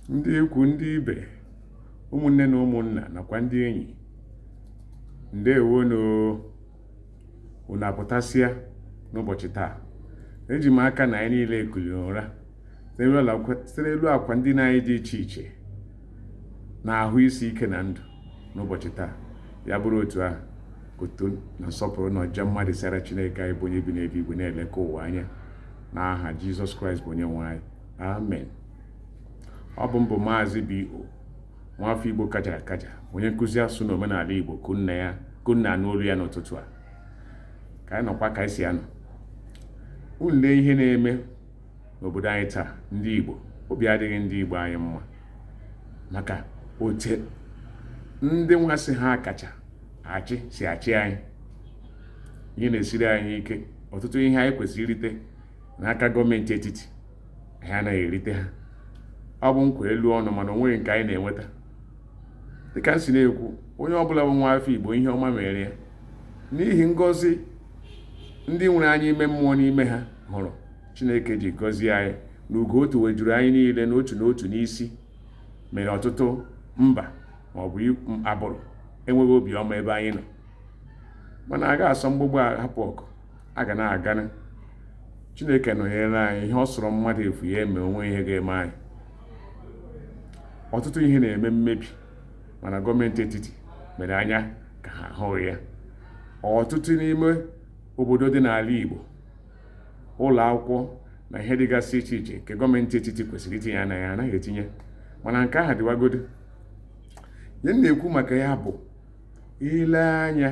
ndị ikwu ndị ibe ụmụnne na ụmụnna nakwa ndị enyi ndewonu unu apụtasịa n'ụbọchị taa eji m aka na anyị niile kuliri ụra site n'elu akwa ndina anyị dị iche iche na ahụ isi ike na ndụ n'ụbọchị taa ya bụrụ otu ahụ otuto na nsọpụrụ na ọja mma dịsara chineke anyị bụ onye bi n'eluigwe na-eleka ụwa anya n'aha jizọs kraịst bụ onye nwe anyị amen ọ bụ m bụ maazị B.O. nwafọ Igbo kajara akaja onye nkụzi asụsụ na omenala Igbo ka unu na-anụ olu ya n'ụtụtụ a ka anyị nọkwa ka anyị si anọ unu lee ihe na-eme n'obodo anyị taa ndị Igbo obi adịghị ndị Igbo anyị mma maka otu ndị nwa sị ha kacha achị si achị anyị ihe na-esiri anyị ike ọtụtụ ihe anyị kwesịrị irite n'aka gọọmenti etiti anyị anaghị erite ha ọ bụ nkwa elu ọnụ mana o nweghị nke anyị na-enweta dịka m si na-ekwu onye ọbụla bụ nwa afọ igbo ihe ọma mere ya n'ihi ngọzi ndị nwere anya ime mmụọ n'ime ha hụrụ chineke ji gọzie anyị na ugo o tuwejuru anyị niile n'otu n'otu n'isi mere ọtụtụ mba ma ọ bụ agbụrụ enweghị obiọma ebe anyị nọ mana a ga-asọ mgbagbu hapụ ọgụ a ga na-aga na chineke nọnyere anyị ihe ọ sọrọ mmadụ efu ya eme o nweghị ihe ga-eme anyị ọtụtụ ihe na-eme mmebi mana gọọmenti etiti mere anya ka ha ahụghị ya ọtụtụ n'ime obodo dị n'ala Igbo ụlọ akwụkwọ na ihe dịgasị iche iche nke gọọmenti etiti kwesịrị itinye anya ha anaghị etinye mana nke ahụ dịwagodo ihe m na-ekwu maka ya bụ i lee anya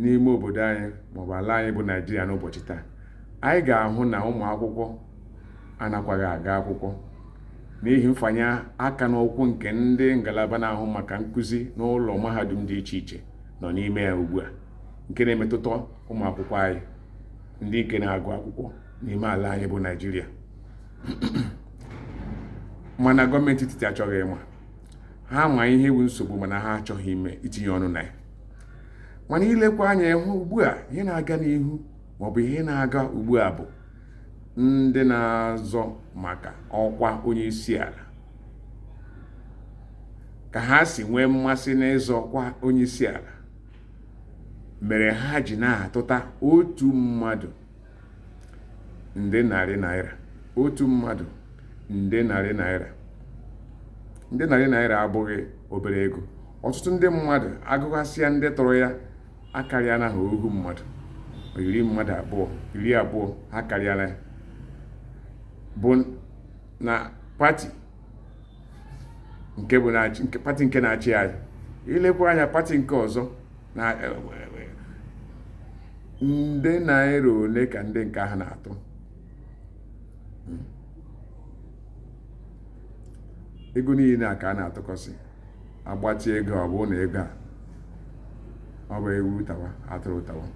n'ime obodo anyị maọbụ ala anyị bụ naijiria n'ụbọchị taa anyị ga-ahụ na ụmụ akwụkwọ anakwaghị aga akwụkwọ n'ihi mfanye aka n'ukwu nke ndị ngalaba na-ahụ maka nkụzi n'ụlọ mahadum dị iche iche nọ n'ime ya ugbu a nke na-emetụta ụmụ akwụkwọ anyị ndị nke na-agụ akwụkwọ n'ime ala anyị bụ naijiria mana gọọmenti etiti achọghị ịma ha ma ihe wụ nsogbu mana ha achọghị ime itinye ọnụ na ya mana i lekwa anya ị hụ ugbu a ihe na-aga n'ihu maọbụ ihe na-aga ugbu a bụ ndị na-azọ maka ọkwa onye isi ala ka ha si nwee mmasị n'ịzọ ọkwa onye isi ala mere ha ji na-atụta otu mmadụ nde narị naira otu mmadụ nde narị naira nde narị naira abụghị obere ego ọtụtụ ndị mmadụ agụghasịa ndị tụrụ ya akarịala ha ohu mmadụ iri mmadụ abụọ iri abụọ ha karịala ya bụ na pati nke na-achị anyị ilekwa anya pati nke ọzọ na e, e, e, nde naira ole ka ndị nke ahụ na-atụ hmm. ego niile a ka a na-atụkọsị agbatị ego ọ bụ na ego a ọ bụ ewu tawa atụrụ tawa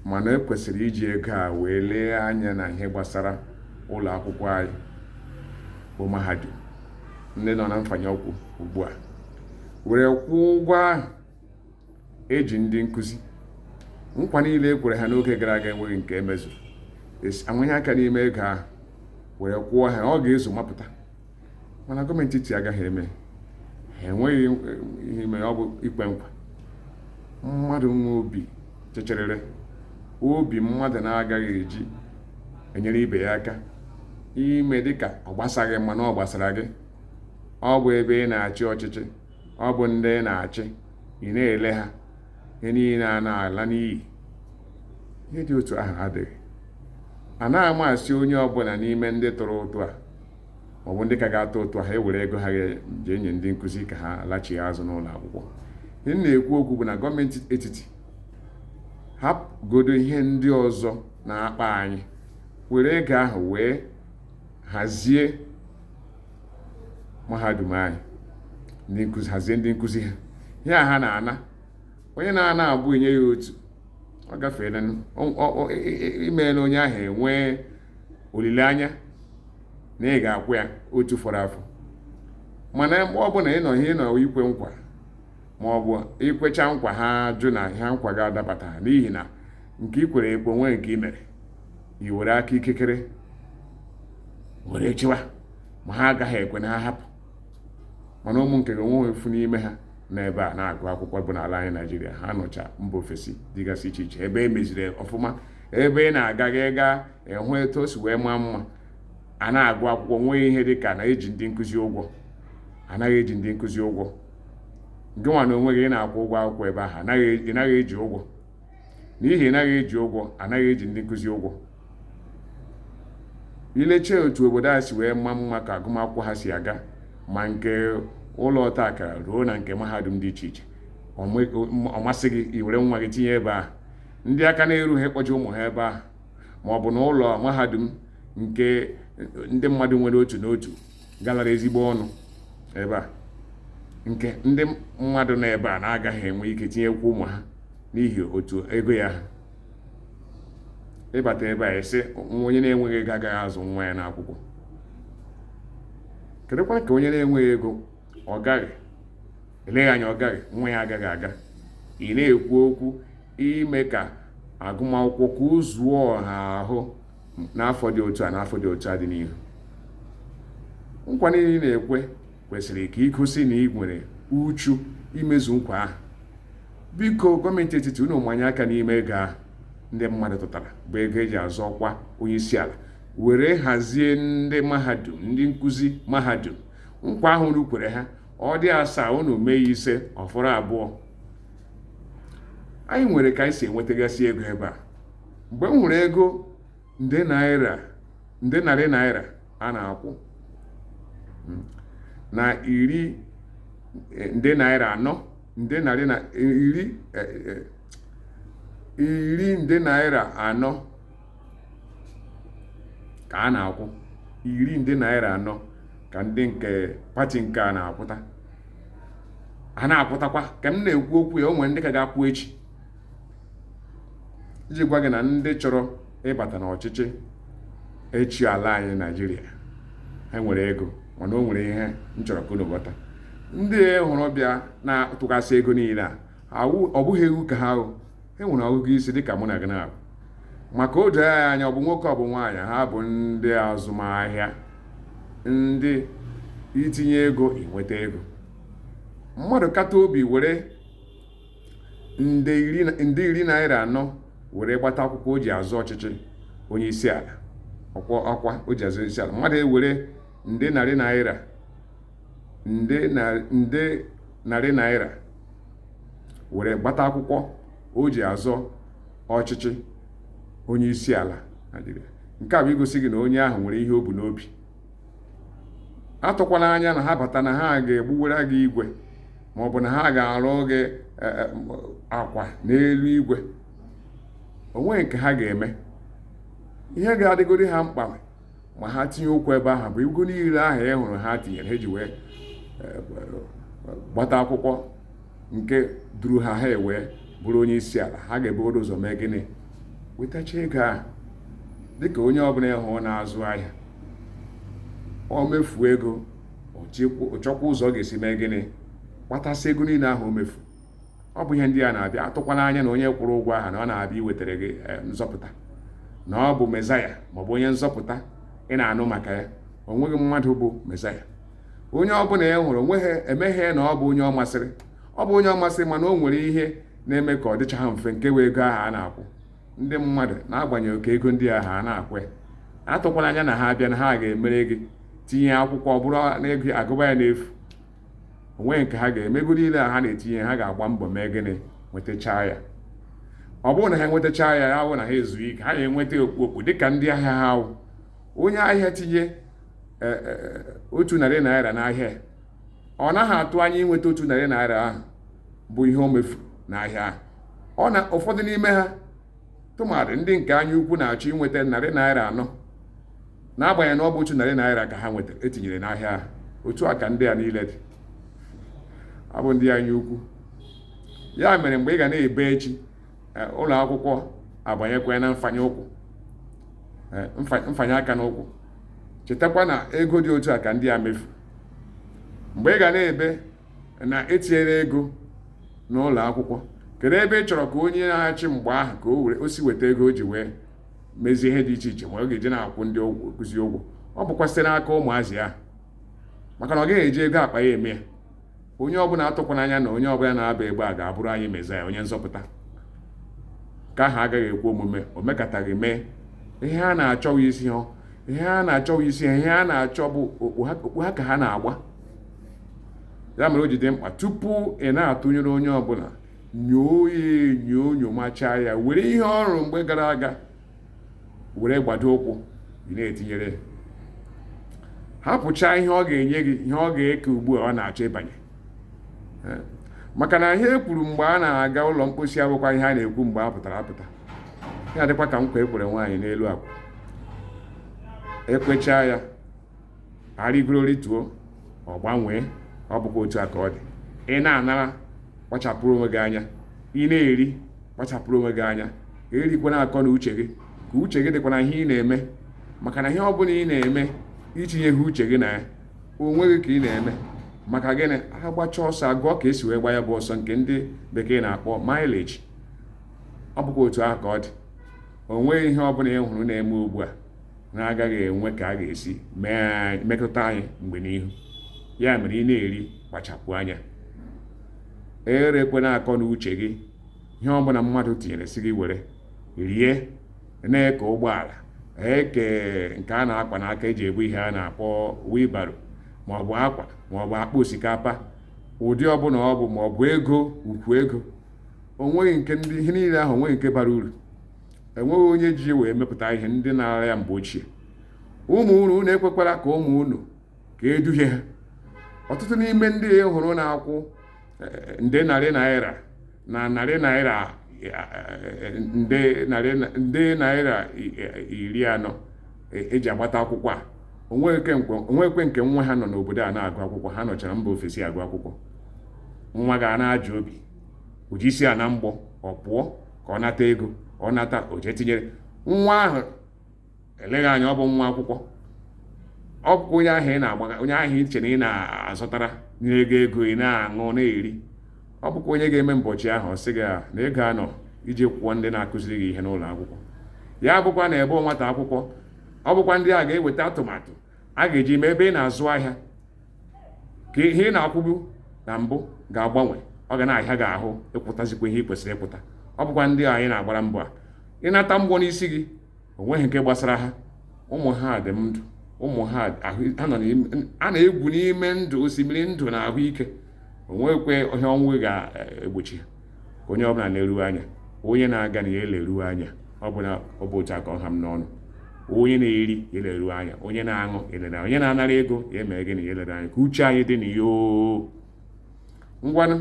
mana e kwesịrị iji ego a wee lee anya na ihe gbasara ụlọ akwụkwọ anyị bụ mahadum ndị nọ na mfanye ọkwụ ugbu a were kwụọ ụgwọ ahụ eji ndị nkụzi nkwa niile e kwere ha n'oge gara aga enweghị nke emezuru amanye aka n'ime ego ahụ were kwụọ ha ọ ga-ezu mapụta mana gọọmenti etiti agaghị eme ha enweghị ihe ime ọ bụ ikwe nkwa mmadụ nwe obi chịchịrịrị obi mmadụ na-agaghị eji enyere ibe ya aka ime dịka ọ gbasaghị mana ọ gbasara gị ọ bụ ebe ị na-achị ọchịchị ọ bụ ndị ị na-achị ị na-ele ha ihe niile a na-ala n'iyi ihe dị otu ahụ adịghị anaghị amasị onye ọbụla n'ime ndị tụrụ ụtụ a ma ọ bụ ndị ka ga-atụ ụtụ a ewere ego ha jee nye ndị nkụzi ka ha lachie azụ n'ụlọ akwụkwọ ihe na-ekwu okwu bụ na gọọmenti etiti hapụgodo ihe ndị ọzọ na-akpa anyị were ego ahụ wee hazie mahadum anyị hazie ndị nkụzi ha ihe a ha na-ana onye na-ana abụọ enye ya otu ọ gafeela imeela onye ahụ enwee olileanya na ị ga-akwụ ya otu fọrọ afọ mana mgbe ọ bụla ị nọ ihe ịnọ ikwe nkwa ma ọ bụ ikwecha nkwa ha jụ na ha nkwa ga-adabata n'ihi na nke ikwere ekwe onweghị nke i mere i were aka ikekere were chịwa ma ha agaghị ekwe na ha hapụ mana ụmụ nke gị onweghị ofu n'ime ha nọ ebe a na-agụ akwụkwọ bụ n'ala anyị naịjirịa ha nọcha mba ofesi dịgasị iche iche ebe e meziri ọfụma ebe ị na-aga gị gaa ịhụ etu o si wee maa mma a na-agụ akwụkwọ nweghị ihe dị ka na eji ndị nkụzi ụgwọ anaghị eji ndị nkụzi ụgwọ gị nwa na onwe gị ị na-akwụ ụgwọ akwụkwọ ebe ahụ ị naghị eji ụgwọ n'ihi na anaghị eji ụgwọ anaghị eji ndị nkụzi ụgwọ i lechaa otu obodo a si wee maa mma ka agụmakwụkwọ ha si aga ma nke ụlọ ọta akara ruo na nke mahadum dị iche iche ọ masị gị i were nwa gị tinye ebe ahụ ndị aka na-erughị ịkpọje ụmụ ha ebe ahụ ma ọ bụ na ụlọ mahadum nke ndị mmadụ nwere otu n'otu galara ezigbo ọnụ ebe a nke ndị mmadụ nọ ebe a na-agaghị enwe ike tinyekwa ụmụ ha n'ihi otu ego ya ha ị bata ebe a a sị onye na-enweghị ego agaghị azụ nwa ya n'akwụkwọ kedụkwa ka onye na-enweghị ego ọ gaghị eleghị anya ọ gaghị nwa ya agaghị aga ị na-ekwu okwu ime ka agụmakwụkwọ ka o zuo ọha ahụ n'afọ dị otu a n'afọ dị otu a dị n'ihu nkwa niile ị na-ekwe kwesịrị ka i gosi na i nwere uchu imezu nkwa ahụ biko gọọmenti etiti unu manye aka n'ime ego ahụ ndị mmadụ tụtara bụ ego eji azọ ọkwa onye isi ala were hazie ndị mahadum ndị nkụzi mahadum nkwa ahụ unu kwere ha ọ dị asaa unu mee ise ọ fọrọ abụọ anyị nwere ka anyị si enwetagasị ego ebe a mgbe m hụrụ ego nde naira nde narị naira a na-akwụ mm, na iri eh, nde naira anọ nde narị na eh, iri eh, eh, iri nde naira anọ ka a na-akwụ iri nde naira anọ ka ndị nke pati nke a na-akwụta a na-akwụtakwa ka m na-ekwu okwu ya o nwere ndị ka ga-akwụ echi iji gwa gị na ndị chọrọ ịbata n'ọchịchị ịchị ala anyị naijiria ha nwere ego mana o nwere ihe m chọrọ ka unu ghọta ndị ị hụrụ bịa na-atụgasị ego niile a ọ bụghị ewu ka ha bụ e nwere ọgụgụ isi dịka mụ na gị naabọ maka o doo ya anya ọ bụ nwoke ọ bụ nwaanyị ha bụ ndị azụmahịa ndị itinye ego inweta ego mmadụ kata obi were nde iri naira anọ were gbata akwụkwọ o ji azọ ọchịchị onye isi ala ọkwa ọkwa o ji azọ isi ala mmadụ ewere nde narị naira nde narị naira were gbata akwụkwọ o ji azọ ọchịchị onye isi ala nke a bụ igosi gị na onye ahụ nwere ihe o bu n'obi atụkwala anya na ha bata na ha ga-egbuwara gị igwe ma ọ bụ na ha ga-arụ gị e, e, akwa n'elu igwe o nweghị nke ha ga-eme ihe ga-adịgodi ha mkpa ma ha tinye ụkwụ ebe ahụ bụ ego niile ahụ ị hụrụ ha tinyere ha ji wee e, gbata akwụkwọ nke duru ha ha ewee bụrụ onye isi ala ha ga-ebugodo ụzọ mee gịnị wetacha ego ahụ dịka onye ọbụla ị hụ na-azụ ahịa o mefuo ego ọ chọkwa ụzọ ọ ga-esi mee gịnị kpatasị ego niile ahụ o mefu ọ bụ ihe ndị a na-abịa atụkwana anya na onye kwụrụ ụgwọ ahụ na ọ na-abịa iwetara gị eh, nzọpụta na ọ bụ mezaya maọbụ onye nzọpụta ị na-anụ maka ya o nweghị mmadụ bụ mezaya onye ọbụla ị hụrụ o nweghị emeghị na ọ bụ onye ọ masịrị ọ bụ onye ọ masịrị mana o nwere ihe na-eme ka ọ dịcha ha mfe nke wee ego ahụ a na-akwụ ndị mmadụ n'agbanyeghị oke ego ndị ahụ a na-akwụ ya atụkwala anya na ha abịa na ha ga-emere gị tinye akwụkwọ ọ bụrụ na a ga-agụba ya n'efu o nweghị nke ha ga-eme ego niile a ha na-etinye ha ga-agba mbọ mee gịnị nwetachaa ya ọ bụrụ na ha enwetachaa ya ya hụ na ha ezughị ike ha ga-enweta okpukpu dịka ndị ahịa ha wụ onye ahịa tinye e, e, e, otu narị naira n'ahịa ọ naghị atụ anya inweta otu narị naira ahụ bụ ihe o mefuru n'ahịa ahụ ọ na ụfọdụ n'ime ha tụmadị ndị nke anya ukwu na-achọ inweta narị naira anọ n'agbanyeghị na ọ bụ otu narị naira ka ha nwetara e tinyere n'ahịa ahụ otu a ka ndị a niile dị ọ bụ ndị anya ukwu ya mere mgbe ị ga na-ebe echi eh, ụlọ akwụkwọ abanyekwa na mfanye ụkwụ eh, mfanye aka n'ụkwụ chetakwa na ego dị otu a ka ndị a mefu mgbe ị ga na-ebe na e tinyere ego n'ụlọ akwụkwọ kedu ebe ị chọrọ ka onye na-achị mgbe ahụ ka o were o si weta ego o ji wee mezie ihe dị iche iche ma ọ ga-eji na-akwụ ndị nkụzi ụgwọ ọ bụkwa site n'aka ụmụazị ahụ maka na ọ gaghị eji ego akpa ya eme ya onye ọbụla atụkwana anya na onye ọbụla na-aba mgbe a ga-abụrụ anyị mezaya onye nzọpụta nke ahụ agaghị ekwe omume o mekataghị mee ihe ha na-achọ wụ isi ha ihe ha na-achọ wụ isi ha ihe ha na-achọ bụ okpu ha ka ha na-agba ya mere o ji dị mkpa tupu ị na-atụnyere onye ọbụla nyoo ya enyo nyomachaa ya were ihe ọ rụrụ mgbe gara aga were gbado ụkwụ ị na-etinyere ya hapụchaa ihe ọ ga-enye gị ihe ọ ga-eke ugbu a ọ na-achọ ịbanye eh? maka na ihe e kwuru mgbe a na-aga ụlọ mkposi abụkwa ihe a na-ekwu mgbe a pụtara apụta ya dịkwa ka nkwa e kwere nwaanyị n'elu akwa ekwechaa ya arịgoro rịtuo ọ gbanwee ọ bụkwa otu a ka ọ dị ị na-anara kpachapụrụ onwe gị anya ị na-eri kpachapụrụ onwe gị anya erikwana akọ na uche gị ka uche gị dịkwa na ihe ị na-eme maka na ihe ọ bụla ị na-eme itinyeghị uche gị na ya onwe gị ka ị na-eme maka gịnị a gbacha ọsọ a gụọ ka e si wee gba ya bụ ọsọ nke ndị bekee na-akpọ mileage ọ bụkwa otu ahụ ka ọ dị o nweghị ihe ọ bụla ị hụrụ na-eme ugbu a na-agaghị enwe ka a ga-esi metụta anyị mgbe n'ihu ya mere ị na-eri kpachapụ anya erekwana akọ na uche gị ihe ọbụla mmadụ tinyere sị gị were rie na-eke ụgbọala eke nke a na-akwa n'aka eji ebu ihe a na-akpọ wheelbarrow maọbụ akwa maọbụ akpa osikapa ụdị ọbụla ọ bụ maọbụ ego ukwu ego onweghị nke ndị ihe niile ahụ onweghị nke bara uru enweghị onye ji wee mepụta ihe ndị na-ara ya mgbe ochie ụmụ unu unu ekwekwara ka ụmụ unu ka eduhie ha ọtụtụ n'ime ndị e hụrụ na-akwụ eh, nde narị naira na narị naira eh, eh, nde naira iri anọ eji agbata akwụkwọ a onwekwe nke nwa ha nọ n'obodo a na-agụ akwụkwọ ha nọchara mba ofesi agụ akwụkwọ nwa gị a na-eji obi eji isi ana mgbọ ọ pụọ ka ọ nata ego ọ nata o jee tinyere nwa ahụ eleghị anya ọ bụ nwa akwụkwọ ọ bụkwa onye ahụ ị na-agbaga onye ahụ ị che na ị na-azọtara nye gị ego ị na-aṅụ na-eri ọ bụkwa onye ga-eme mbọchị ahụ ọ sị gị ah, na ego anọ iji kwụọ ndị na-akụziri gị ihe n'ụlọ akwụkwọ ya bụkwa na ebe nwata akwụkwọ ọ bụkwa ndị a ga-eweta atụmatụ a ga-eji mee ebe ị na-azụ ahịa ka ihe ị na-akwụbu na mbụ ga-agbanwe ọ ga na-ahịa gị ahụ ịkwụtazikwa ihe ị kwesịrị ịkwụta ọ bụkwa ndị anyị na-agbara mbọ a ịnata mgbọ n'isi gị onweghị nke gbasara ha ụmụ ha dị ndụ ụmụ ha a na-egwu n'ime ndụ osimiri ndụ na ahụike onwekwe ihe ọnwụ ga-egbochi ha onye ọbụla leru anya onye na-aga na ya eleru anya ọ bụ na ọ bụ otu a ka ọ ha m n'ọnụ onye na-eri ya eleru anya onye na-aṅụ elere onye na-anara ego ya emee gịnị ya elere anya ka uche anyị dị na ya ngwanụ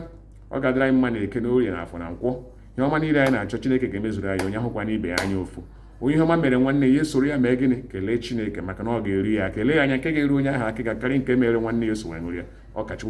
ọ ga-adịrị anyị mma na eke na orie na afọ na nkwọ ihe ọma niile anyị na-achọ chineke ga-emezuru anyị onye ahụkwana ibe ya anya ụfụ onye ihe ọma mere nwanne ya esoro ya mee gịnị kelee chineke maka na ọ ga-eru ya eleghị anya nke ga-eru onye ahụ aka ga-akarị nke mere nwanne ya eso wee ya ọ ka chukwu